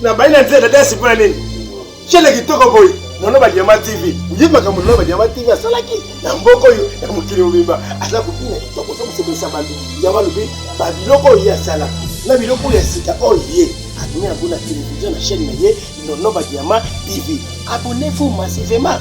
na bayi na nzela dasi mpo na nini shele kitoko boye nono badiama tv oyebi makambo nono badiama tv asalaki na mboka oyo ya mokili mobimba aza kobina kitoko oza kosepelisa bato yango alobi babiloko oyo ye asala na biloko ya sika oyo ye abimi yango na televizio na chaîne na ye nono badiama tv abonnez-vous massivement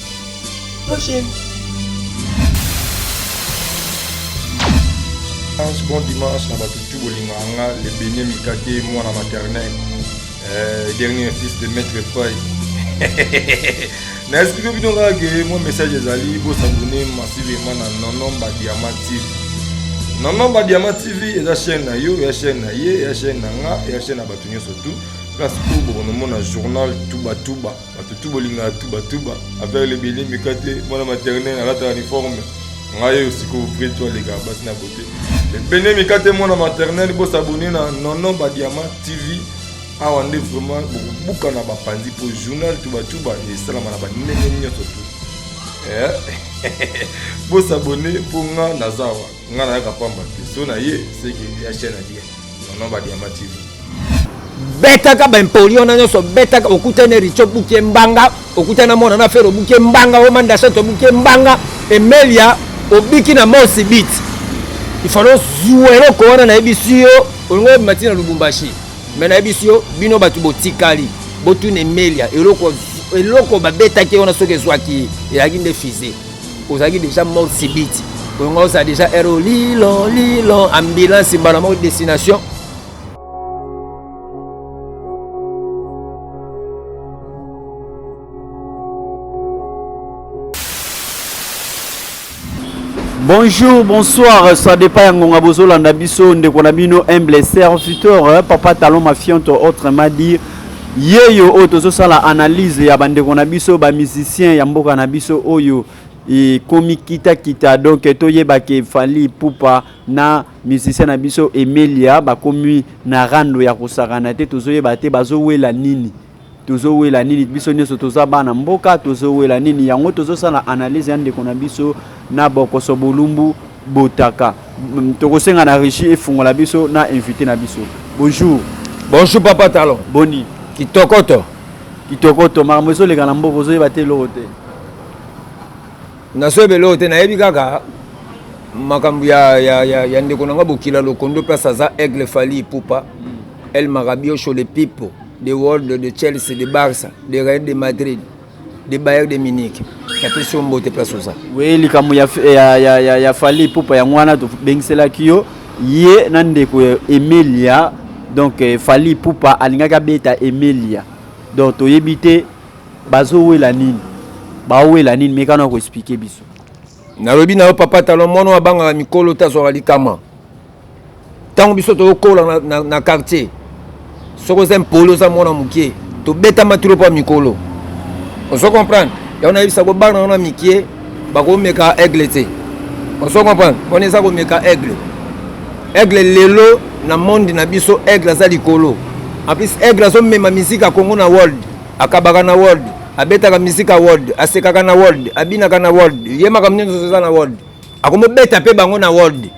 Prochaine. Bon dimanche na bato tu bolingo yanga le benie mikate mwana maternel euh, dernier fils de maître pai na explike bino kaka ke mwa message ezali bosabone masivema na nono badiama tv nono badiama tv eza chaîne na yo ya chaîne na ye ya chaîne na nga ya chaîne na bato nyonso tout place oyo bokonomona journal tubatuba Bato tout bolingaka tout batuba affaire lebele meka te mwana maternelle alataka uniforme ngai oyo sikoyo vrai to alekaka basi na bote lebele meka te mwana maternelle bosabone na nono badiama tv awa nde vraiment bokobuka na bapanzi mpo journal tubatuba esalama na bandenge nyonso tu eh? bosabone mpo nga naza awa Nga na yaka pamba te so na ye seke ya chaîne na bien non ba diamant TV betaka ba impoli wana nyonso betaka okutani richo buke mbanga okutana mwana na fero buke mbanga o manda soto buke mbanga emelia obiki na mosi bit ifalo zuwa eloko wana nayebisi yo olingo yebima ntina lubumbashi me nayebisi yo bino bato botikali botuna emelia eloko eloko babetaki wana soki ezwaki ye ezalaki nde fize ozalaki deja mort subite oyonga ozala deja ere olilo lilo ambulance mbala moko destination bonjour bonsoir ça dépend ya ngonga bozolanda biso ndeko na bino humble serviteur papa talon mafiante autrement dit Yeyo oyo tozosala analyse ya bandeko na biso ba musicien ya mboka na biso oyo ekomi kitakita donc toyeba ke fali ipupa na musicien na biso emelia bakomi na rando ya kosakana te tozoyeba te bazowela nini tozowela nini biso nyonso toza bana mboka tozowela nini yango tozosala analyse ya ndeko na biso na bokoso bolumbu botaka tokosenga na regie efungola biso na invité na biso bonjour bonjour papa talon boni kitokoto kitokoto makambo ezoleka na mboka ozoyeba te eloko te nazoyeba eloko te nayebi kaka makambo ya, ya, ya, ya ndeko na nga bokila lokondo place aza aigle fali ipupa mm. el marabiosho le pipo de world de chelsea de barça de real de madrid de Bayern de Munich napesi yo mbote place oza we likambo ya, ya, ya, ya, ya fali pupa yango wana tobengiselaki yo ye na ndeko ya emelia donc eh, fali pupa alingaki abeta emelia donc toyebi te bazowela nini bawela nini mekana koexplike biso nalobi na yo papa talon mwana oyo abangaka mikolo te azwaka likama ntango biso tokokola na, na, na quartier soki oza mpoli oza mwana mokie tobetama tilo mpo mikolo ozo comprendre yango nayebisa ko bana wana mikie bakomeka aigle te ozo comprendre mpona eza komeka aigle aigle lelo na monde na biso aigle aza likolo en plus aigle azomema miziki ya congo na world akabaka na world abetaka miziki ya world asekaka na world abinaka na world ye makambo nyonso eza na world akomobeta mpe bango na world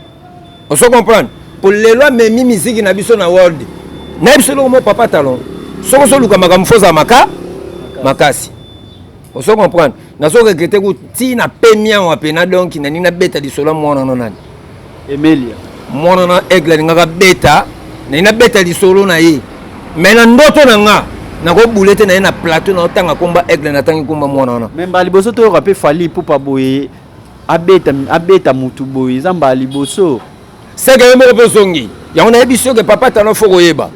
ozo comprendre po lelo amemi miziki na biso na world nayebi so eloko mo papa talon soki ozoluka makambo fo ozala maka makasi ozo comprendre nazo regrete ku ti na pemia wa pena donc nani nabeta lisolo ya mwana no nani emelia mwana na aigle alingaka beta nani nabeta lisolo na ye me na ndoto na nga nakobule te na ye na plateau naotanga komba aigle natangi komba mwana wana memba liboso toyoka mpe fali pupa boye Abeta abeta mutu boye eza mbala liboso. Seke yo moko pe ozongi. Yango nayebi soki papa talon faut koyeba.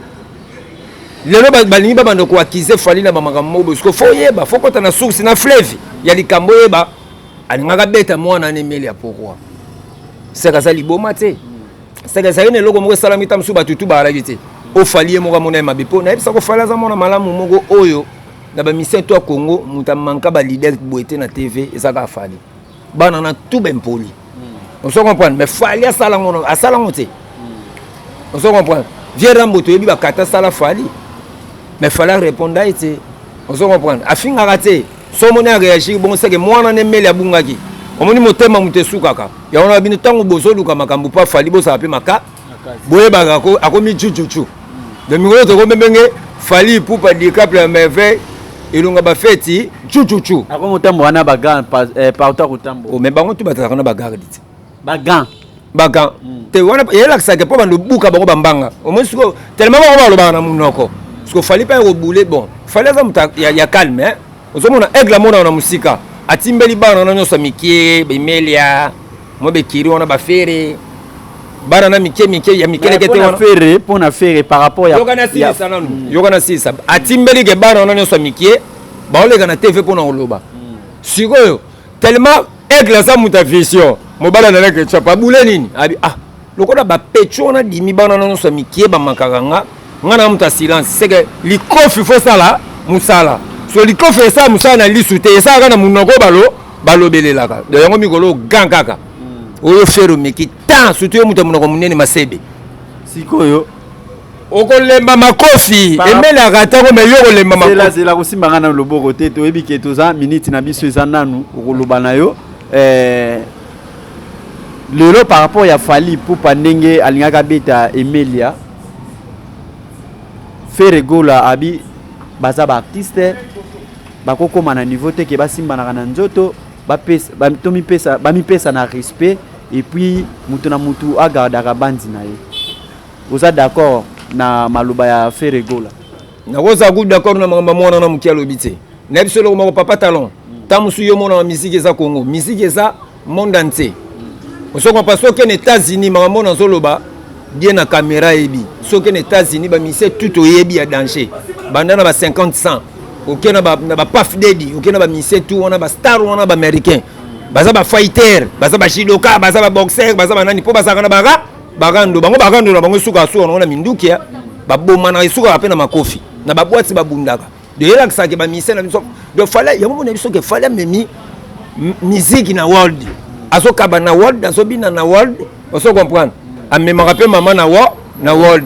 Lelo balingi ba banda ko accuser Fally na ba makambo moko bosiko faut yeba faut kota na source na fleuve ya likambo yeba alingaka beta mwana ne meli ya pourquoi. Seke aza liboma te. Seke ezali na eloko moko esalami ta mosusu batutu baalaki te. Ofali ye moko amona ye mabe po nayebisa ko Fally aza mwana malamu moko oyo na ba misère toi Congo muta manka ba leader boete na TV eza ka fali bana na tout ben poli hmm. on se comprendre mais fali asala ngono asala ngote hmm. on se comprendre vieux Rambo to yebi ba kata sala fali mais fala répondre à été on se comprendre afinga raté somo ne réagir bon c'est que moi na ne mele abungaki omoni motema moto esukaka yango na bino ntango bozoluka makambo mpo afali bozala mpe maka boyebaka akomi chuchuchu na mikolo tokomemenge fali ipupa dicable ya merveille elonga bafeti chuchuchu akomi kotambo wana bagan eh, partout akotambo oh, me bango tu bazalaka na bagarde te bagan bagan hmm. te wana yelakisaka mpo bando buka bango bambanga omoi siko telema bango balobaka na monoko siko fali mpe akobule bon fali aza moto ya calme eh? ozomona aigle amonaka na mosika atimbeli bana na nyonso mikie bemelia Mwa bekiri wana ba ferre bana na mike mike ya mikelekete wana ferre mpo na ferre par rapport ya yoka na silisa nanu mm. yoka na silisa atimbeli ke bana wana nyonso ya mikie baoleka na tv mpo na koloba mm. sikoyo tellement aigle aza moto ya vision mobali analeke chapa abule nini abi ah lokola ba pecho wana dimi bana na nso mikie ba makaka nga nga na muta silence c'est que likofi faut sala musala so likofi esa musala na lisu te esa kana munoko balo balobelelaka de yango mikolo gan kaka hmm. oyo fero meki tan surtout yo muta munoko munene masebe sikoyo okolemba makofi emelaka ntango me yo okolemba makofizelazela kosimba ngai na loboko te toyebi ke toza miniti na biso eza nanu okoloba na yo eh, Lelo par rapport ya Fally Ipupa ndenge alingaki abeta Emelia, Ferre Gola abi baza ba artiste bakokoma na niveau te ke basimbanaka na nzoto bamipesa ba, ba na respect et puis moto na moto agardaka banzi na ye. Oza d'accord na maloba ya Ferre Gola? nakozala kutu d'accord na makambo ya mwana na moke alobi te na biso eloko moko papa talon ntango mosusu yo omonaka miziki eza congo miziki eza monde entier osoko mpa soki na états-unis makambo oyo nazoloba bie na kamera eyebi soki na états-unis bamisie tout oyebi ya danger banda na ba 50 cent oke na bapaf dedi oke na bamisie tout wana bastar wana baaméricain baza bafighter baza bajidoka baza baboxer baza banani mpo bazalaka na bara Barando, bango barando na bango esuka suka na minduki ya babomanaka esukaka mpe na makofi na babwati babundaka doyelakisaka ke bamisien na biso do fale yango mona biso ke fale amemi miziki na world azokaba na world azobina na world oso comprendre amemaka mpe mama na wa na world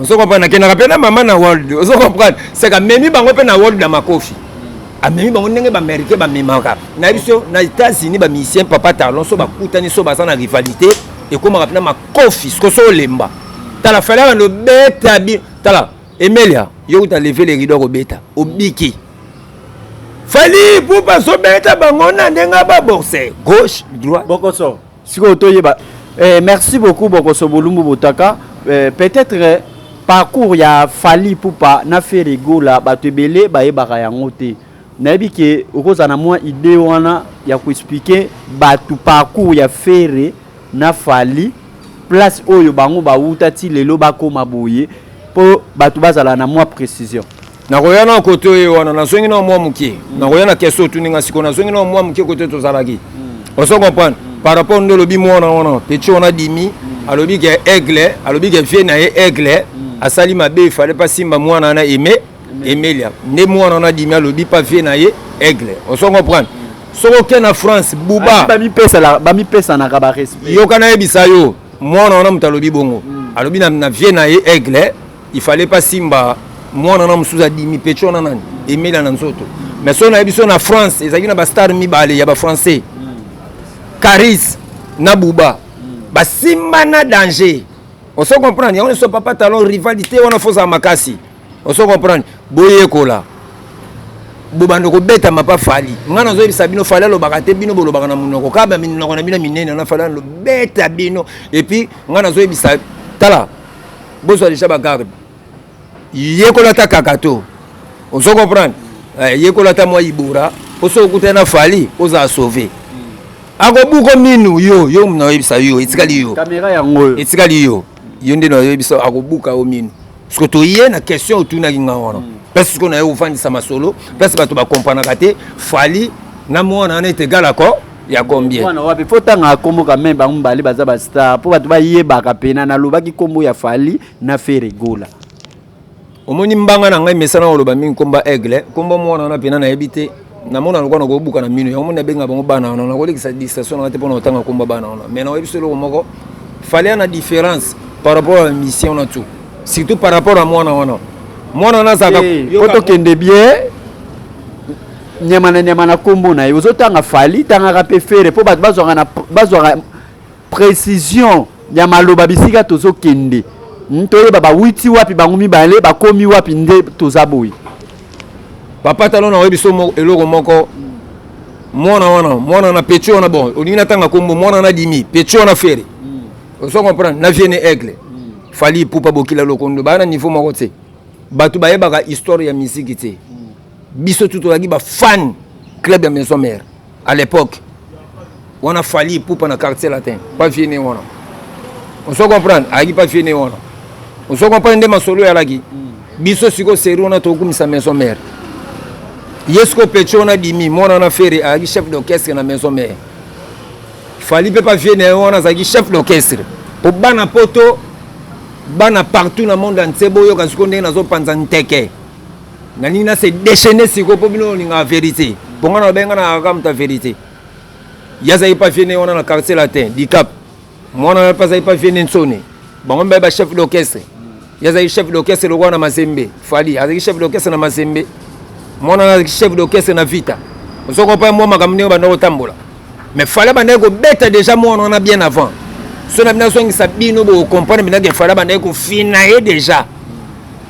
ozo comprendre nakendaka mpe na mama na world ozo comprendre seka memi bango mpe na world na makofi amemi bango ndenge baaméricain bamemaka na biso na états-unis bamisien papa talon so bakutani so baza na rivalité ekomaka mpena makofi siko so olemba tala falaka nobeta bi tala emelia yo kuta leve le rido akobeta obiki fali pupa azobeta bango na ndenge baborse gauche droit bokoso Sikoyo toyeba eh, merci beaucoup Bokoso Bolumbu Botaka eh, peut-être parcours ya Fally Ipupa na Ferre Gola bato ebele bayebaka yango te nayebi ke okozala na mwa idée wana ya koexplike bato parcours ya Ferre na Fally place oyo bango bawuta ti lelo bakoma boye mpo bato bazala na mwa précision nakoya na kote oyo wana nazongi na mwa moke mm. nakoya na kese otuni nga sikoyo nazongi na mwa moke kote tozalaki mm. ozo comprendre mm. par rapport nde olobi mwana wana petit wana dimi alobi ke aigle alobi ke vie na ye aigle asali mabe efale mpa simba mwana wana aime emelia nde mwana wana dimi alobi mpa vie na ye aigle ozo comprendre soki oke na france buba bamipesanaka barespect yoka nayebisa yo mwana wana moto alobi bongo alobi na vie na ye aigle il fallait pas simba mwana na mosusu adimi pecho na nani emela na nzoto mais soki nayebi so na france ezalaki na bastar mibale ya bafrançais caris na buba basimba na danger oso comprendre yango nyonso papa talon rivalité wana fozala makasi oso comprendre boyekola bobanda kobeta mapa fali ngai nazoyebisa bino fali alobaka te bino bolobaka na monoko kaka minoko na bino minene na fali alobeta bino epuis ngai nazoyebisa tala bozwa deja bagarde yekola ata kakato ozo comprendre eh, yekola ata mwa ibora mpo soki okutani na fali ozala sauve akobuko minu yo yo naoyebisa yo etikali yo kamera yango oyo etikali yo yo nde naoyebisa akobuka yo minu parceke toye na question otunaki nga wana mm. place sikoyo naye ofandisa masolo place bato bakompranaka te fali na mwana wana ete egal accord ya combien mwana wapi faut tanga kombo quand même bango mbali baza ba star po bato bayebaka pena nalobaki kombo ya fali na fere gola omoni mbanga na ngai mesana koloba mingi komba aigle kombo mwana wana pena nayebi te namona lokola nakobuka na mino yango moni nabenga bango bana wana nakolekisa distraction nanga te mpona kotanga komba bana wana mais nayebi so eloko moko fale na différence par rapport ya mission na tout surtout par rapport ya mwana wana mwana wana azalaka po tokende bien Nyama na nyama na kombo na ye. Ozo tanga Fally, tangaka pe Ferre po bato bazwaka na bazwaka precision ya maloba bisika tozo kende. Hmm, toyeba ba witi wapi bango mibale bakomi wapi nde toza boye. Papa talon na oyebi somo eloko moko mwana wana mwana na petit wana bon olingi natanga kombo mwana na dimi petit wana Ferre. Hmm. Ozo comprendre na vienne aigle. Hmm. Fally Ipupa Bokila Lokondo bana niveau moko tse. Bato bayebaka histoire ya miziki tse. biso tout olaki ba fan club ya maison mère à l'époque wana fali pupa na quartier latin pa vie ne wana ozo comprendre ayaki pa vie ne wana ozo comprendre nde masolo oyalaki biso siko seri wana tokumisa maison mère ye siko pecho wana dimi mwana wana fere ayaki chef d'orchestre na maison mère fali mpe pa vie ne wana azalaki chef d'orchestre mpo bana poto bana partout na monde entier boyoka siko ndenge nazopanza nteke nalingi na se déchaîner sikoyo mpo bino olingaka verité mpo ngai nalobai ngai nakaka moto ya verité ye azalaki mpe aviene wana na quartier latin dicap mwana wana mpe azalaki mpe aviene nsone bango mibali bachef d'orchestre ye azalaki chef d'orchestre lokola na mazembe fali azalaki chef d'orchestre na mazembe mwana wana azalaki chef d'orchestre na vita ozokopa mwa makambo ndenge banda kotambola mais fala bandaki kobeta deja mwana wana bien avant so na bino azongisa bino bokokomprendre bino ke fala bandaki kofina ye deja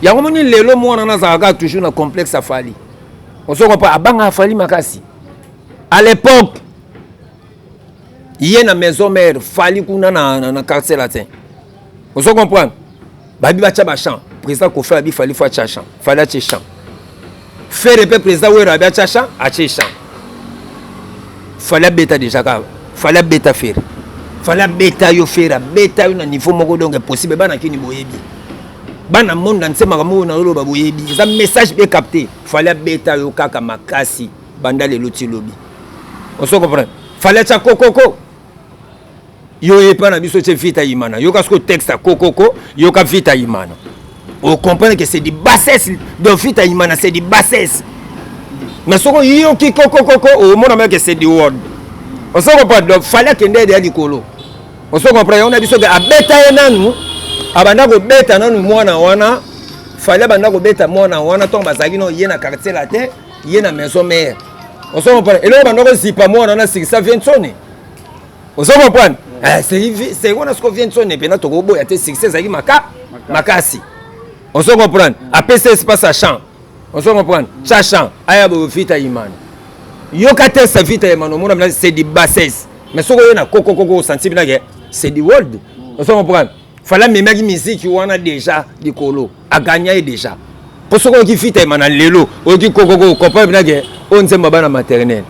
yango moni lelo mwana wana azalaka toujours na complexe afali ozokopa abanga afali makasi à l'époque ye na maison mère fali kuna na, na, na quartier latin ozo comprendre babi batya bachamp président kofi abi fali fo atya champ fali atye champ fere mpe président wero abi atya champ atye champ fali abeta déjà kaka fali abeta fere fali abeta yo fere abeta yo na niveau moko donc impossible bana kini boyebi bana monde na nse makambo oyo naoloba boyebi eza message mpe capte fali abeta yo kaka makasi banda lelo ti lobi oso comprendre fali atya kokoko yo epa na biso ce vita imana yoka siko texte kokoko yoka vita imana o comprendre que c'est du bassesse donc vita imana c'est du bassesse mais soko yoki kokokoko omona meke c'est du word oso comprendre donc fallait akende ede ya likolo oso comprendre yango na biso ke abeta ye nanu abanda kobeta nanu mwana wana fallait abanda kobeta mwana wana ntango bazalaki no ye na quartier latin ye na maison mare oso comprendre eloko banda kozipa mwana wana sikisa viensoni ozo comprendre eh, c'est wana siko vient son epena tokoboya te succès ezalaki maka makasi ozo comprendre apesa espace ya champ ozo comprendre cha champ aya boyo vita imano yoka te sa vita imano omona mina c'est du bassesse mais soki oye na kokokoko osanti mina ke c'est du world ozo comprendre fala amemaki miziki wana deja likolo aganya ye deja mpo soki oyoki fita emana lelo oyoki kokoko comprendre mpena ke oyo nzembo ya bana maternel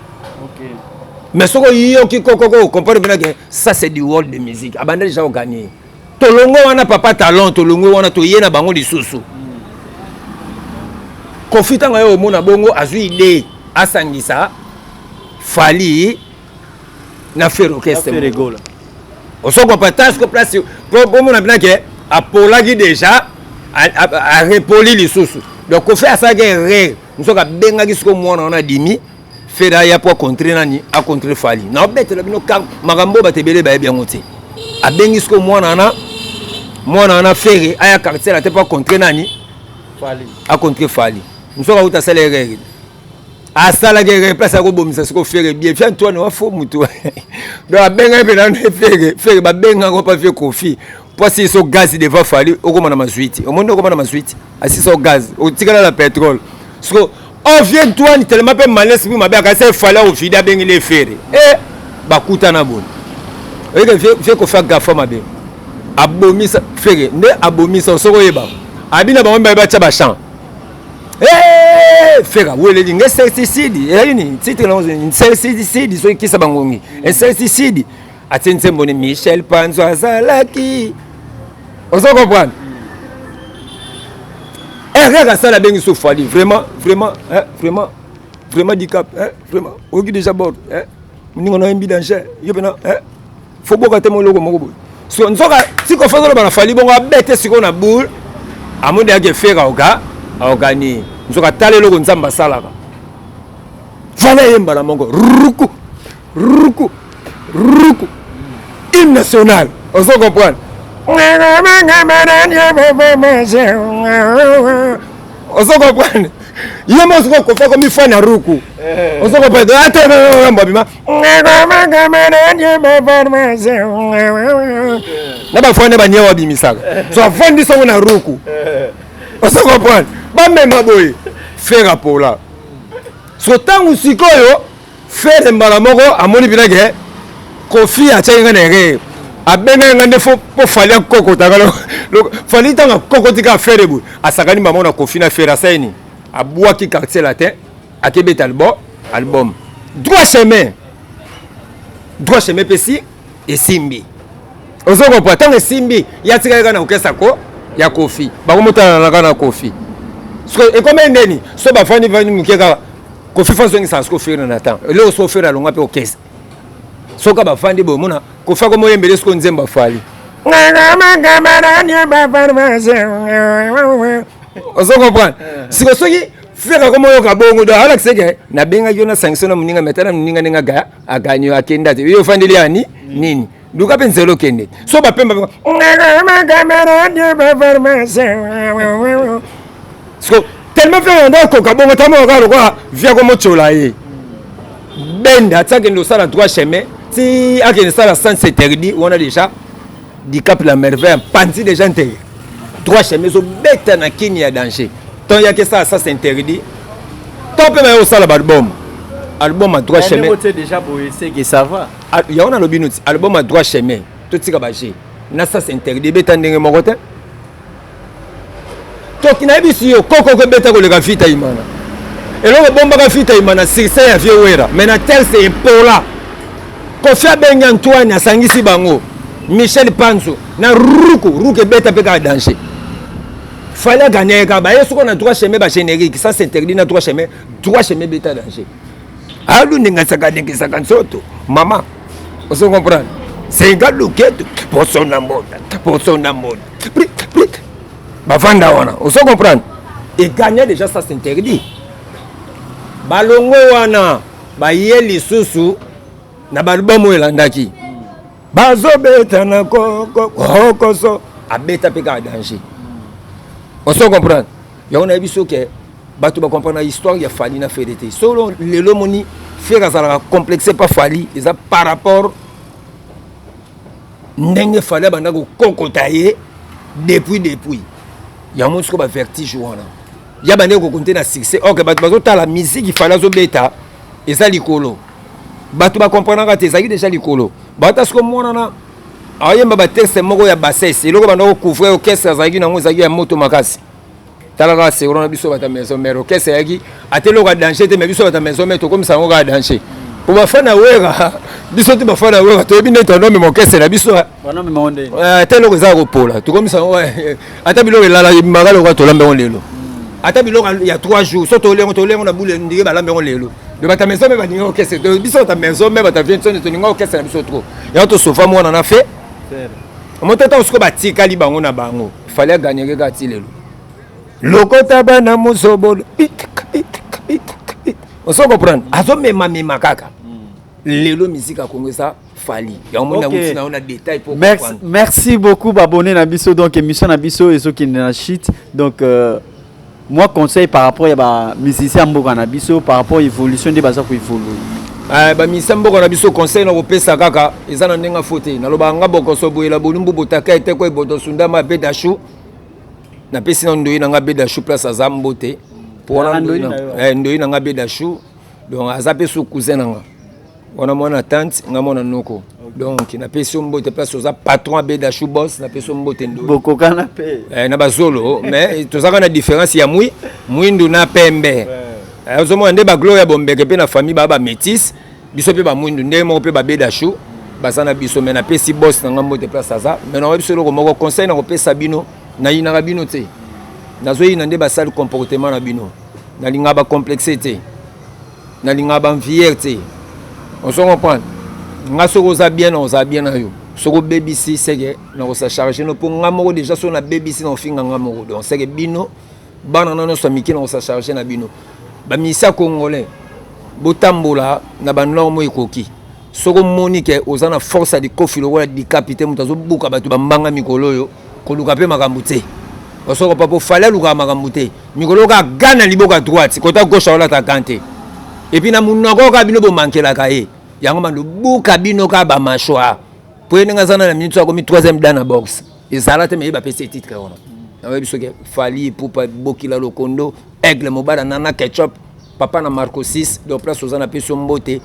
mais soki oyoki kokoko comprendre mpena ke ça c'est du world de musique abanda deja oganye ye tolongwe wana papa talent tolongwe wana toye na bango lisusu mm. kofi ntango aye omona bongo azwi idee asangisa fali na ferre orchestre ferre gola osoko patas ko place po bomona bina ke apolaki déjà arepoli lisusu donc kofi asalaki erreur nsoki abengaki siko mwana wana adimi feda aya mpo acontre nani acontre fali naobetela bino makambo oyo bato ebele bayebi yango te abengi siko mwana wana mwana wana fere aya quartier na te mpo acontre nani acontre fali nsoki auta asala erreur asalaki eke place akobomisa siko fere bie fia antoine wa fo motu donc abengaki mpe nano fere fere babenga yango mpa fie kofi mpo asili so gaz devant fali okoma na mazwi ti omoni okoma na mazwi ti asili so gaz otikala na petrole siko ofie antoine telema mpe malesi mpe mabe akasi efali akovide abengeli efere e eh, bakutana boni oyeke fie kofi agafa mabe abomisa fere nde abomisa osoko oyeba abi na bango mibale batya bachamp Hey, fera weleli nge certicide ezali nini titre na ozali certicide soki kisa bangongi certicide atie nsembo ni michel panzo azalaki ozo comprendre erreur asala abengi so fali vraiment vraiment eh, vraiment vraiment dicap eh, vraiment oyoki déjà bord eh, moninga na yembi danger yo mpena eh. fo boka te moloko moko boye so nzoka siko fo azoloba na fali bongo abete sikoyo na boule amoni yake fere aoka aokani nzoka tala eloko nzambe asalaka vala ye mbala moko ruku ruku ruku hymne national ozo comprendre ozo comprendre ye mo ozo kokofa komifana ruku ozo comprendre atmabima na bafwande bania wabimisaka so afandi songo na ruku osa comprendre bamema boye fere apola so ntango sikoyo fere mbala moko amoni mpena ke kofi atyaki ngai na erreur abengaki ngai nde mpo fali akokota ngai fali ntango akokoti kaka fere boye asakani mbala moko na kofi na fere asali nini abwaki quartier latin akebeta albo album droit chemin droit chemin epesi esimbi ozo comprendre ntango esimbi ya tikali kaka na kokesa ko ya kofi bakomotalana kaka na kofi sikoyo ekomeli ndeni so bafandi fandi moke kaka kofi fo azongisa siko ofere na temps eloko so ofere alonga mpe okesa soka bafandi boye mona kofi akomi oyembele siko nzembo afali ozo comprendre sikoyo soki Frère akoma oyoka bongo do ala kiseke na benga yo na sanction na muninga metana muninga ninga ga aganyo akenda te yo fandeli ani nini luka mpe nzela okende so bapemba siko tellement mpe yanda okoka bongo tamoyoka lokola viako motyola ye benda ti akende osala droit chemin ti akende sala sens interdit wana déjà dicap la merveille apanzi deja nteye trois cheme ezobeta na kini ya danger ton yaki esala sas interdit to mpe baye kosala balbum album ya trois cheme ah, yango nalobi noti album ya trois cheme totika baje na sas interdit ebeta ndenge moko te toki nayebisi yo koko kobeta koleka vita imana eloko ebombaka vita imana succès ya vieux wera mais na telse epola kofi abengi antoine asangisi bango michel panzo na ruku ruku ebeta mpe kaka danger fali aganyaki kaka baye soko na droit chemin bagénérique ça s'interdit na droit chemin droit chemin ebeta danger alu ndingasaka ndingisaka nsoto mama ozo comprendre senga luketu poso na mbota poso na mbota bavanda wana ozo comprendre egagna déjà ça s'interdit balongo wana baye lisusu na balubamu elandaki bazobeta na kokoso abeta mpe kaka danger ozo comprendre yango nayebi biso ke bato bacomprendre histoire ya fali na fede te solo lelo moni fere azalaka complexe pa fali eza par rapport ndenge fali abanda kokokota ye depuis depuis yango siko bavertige wana ya bandeki kokonte na succès ok bato bazotala miziki fali azobeta eza likolo bato bakomprenaka te ezalaki deja likolo bata siko monana ayemba batexte moko ya bassesse eloko banda kocouvrir orchestre azalaki nango ezalaki ya moto makasi tala kaka sekro na biso bata maison mère okese yaki ate eloko ya danger te mais biso bata maison mère tokomisa yango kaka danger po bafana wera biso te bafana wera toyebi nde tonomema okese na biso ata eloko eza ya kopola tokomisa yango ata biloko elala ebimaka lokola tolambi yango lelo ata biloko ya 3 jours so tolengo tolengo na bule ndenge balambi yango lelo me bata maison me balingi okese biso bata maison me bata vie nsoni tolingi okese na biso trop yango tosofa mwana na fe moto ata osiko batikali bango na bango fali aganyeke kaka ti lelo lokota bana mozobolo ozo comprendre azomemamema kaka lelo miziki ya kongo eza fali yango moni yango ntina ona détail po merci, merci beaucoup babone na biso donc émission na biso ezokende na chute donc euh... Moi conseil par rapport ya ba musiciens mboka na biso par rapport évolution nde baza ko évoluer. Eh, ba musiciens mboka na biso conseil na kopesa kaka eza na ndenge fo te naloba nga bokoso boyela bolumbu botaka ete ko eboto sundama bedashu napesi na ndoyi na nga bedashu place aza mbote mpo wana ndoyi na nga bedashu donc aza mpe su cousin na nga wana mwana tante nga mwana noko donc napesi yo mbote place oza patron abeda chou bos napesi yo mbote ndobokokana mpe eh, na bazolo mais tozaka na différence ya mwi mwindu na pembe eh, ozomona nde baglore ya bombeke mpe na famille baa bamétise biso mpe bamwindu ndenge moko mpe babeda chou baza na biso mais napesi bos na nga mbote place aza mais nakoyebi biso eloko moko conseil nakopesa bino nayinaka bino te nazoyina nde basali comportement na bino nalingaka bacomplexe te nalingaka ba envier te ozo comprendre nga soki oza bien na oza bien na yo soki obebisi seke nakosa charge no mpo nga moko deja soki nabebisi na ofinga nga moko donc seke bino bana na nyonso ya mike nakosa charge na bino bamisia congolais botambola na banorme oyo ekoki soki omoni ke oza na force ya likofi lokola dikapi te moto azobuka bato bambanga mikolo oyo Koluka pe makambu tse. Osoko papo fale alukaka makambu te. Mikolo oyo kaka gant na liboka droite, kota gauche aolata gant te. Et puis na munoko oyo kaka bino bo mankelaka ye. Yango mando buka bino kaka ba machwa. Po ye ndenge aza na minute oyo akomi troisième dan na boxe. Ezala te mais ye ba pesi ye titre wana. Na yebi soki Fally Ipupa Bokila Lokondo Aigle Mobala Nana Ketchup Papa na Marco 6 donc place oza na peso mbote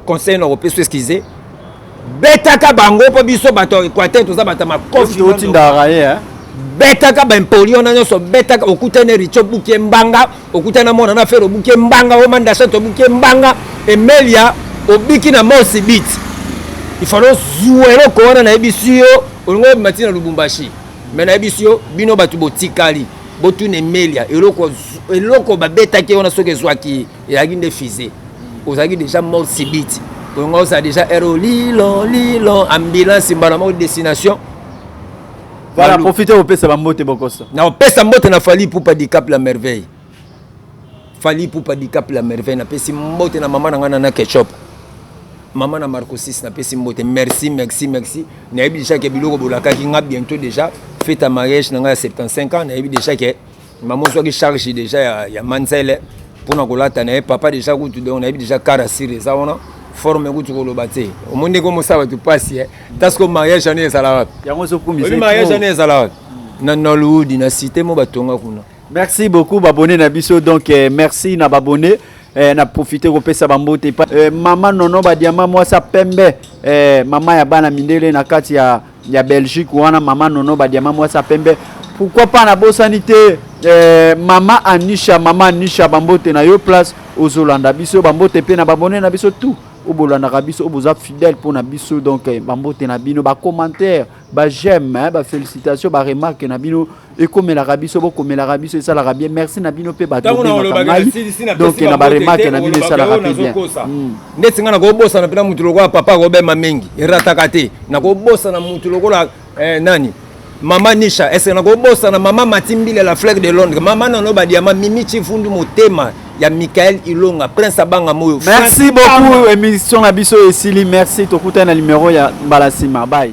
conseil na kopesa excuse betaka bango mpo biso bato ya Equateur toza bato ya makofi otindaka ye hein betaka baimpoli wana nyonso betaka okutani richo buke mbanga okutani na mwana na fere obuke mbanga omandashat obuke mbanga emelia obiki na mosi bit ifalo ozwa eloko wana nayebisi yo olingi obima ntina lubumbashi me nayebisi yo bino bato botikali botuna emelia eloko, eloko babetaki wana soki ezwaki ye ezalaki nde fise ozalaki déjà mort sibiti olinga ozala déjà ero lilo lilo ambulance mbala moko destination voilà profite opesa bambote bokosa na opesa mbote na fali pupa dicap la merveille Fally Ipupa Dicap la merveille napesi mbote na mama na ngai Nana Ketchup mama na Marco 6 napesi mbote merci merci merci nayebi deja ke biloko bolakaki nga bientôt deja fete ya mariage na ngai ya 75 ans nayebi deja ke mama ozwaki charge deja ya, ya manzele mpona kolata na ye papa deja kutu donc nayebi deja kara sire eza wana forme kutu koloba te omoni ndenge omosala bato mpasi e tasiko mariage ane ezala wapi yango ezokumismariage ane ezala wapi na nollywood na site mo batonga kuna Merci beaucoup babone na biso donc eh, merci na babone eh, na profite kopesa bambote eh, mama nono badiama mwasi ya pembe eh, mama ya bana mindele na kati ya, ya belgique wana mama nono badiama mwasi ya pembe pourquoi pas nabosani te eh, mama anisha mama anisha bambote na yo place ozolanda biso bambote mpe na babone na biso tout oyo bolandaka biso oyo boza fidèle mpo na biso donc eh, bambote na bino bacommentaire ba j'aime hein, ba félicitations ba remarque na bino ekomelaka biso bokomelaka biso esalaka bien merci na bino mpe bato bobengaka ngai donc na ba remarque na bino esalaka mpe bien hmm. ndeti ngai nakobosana mpe na motu lokola papa akobema mingi erataka te nakobosana motu lokola eh, nani mama nisha ese nakobosana mama matimbile la fleur de londres mama nano badiama mimi chifundu motema ya Michael Ilonga Prince abanga moyo Merci beaucoup émission na biso esili merci tokutana na numéro ya mbala sima bye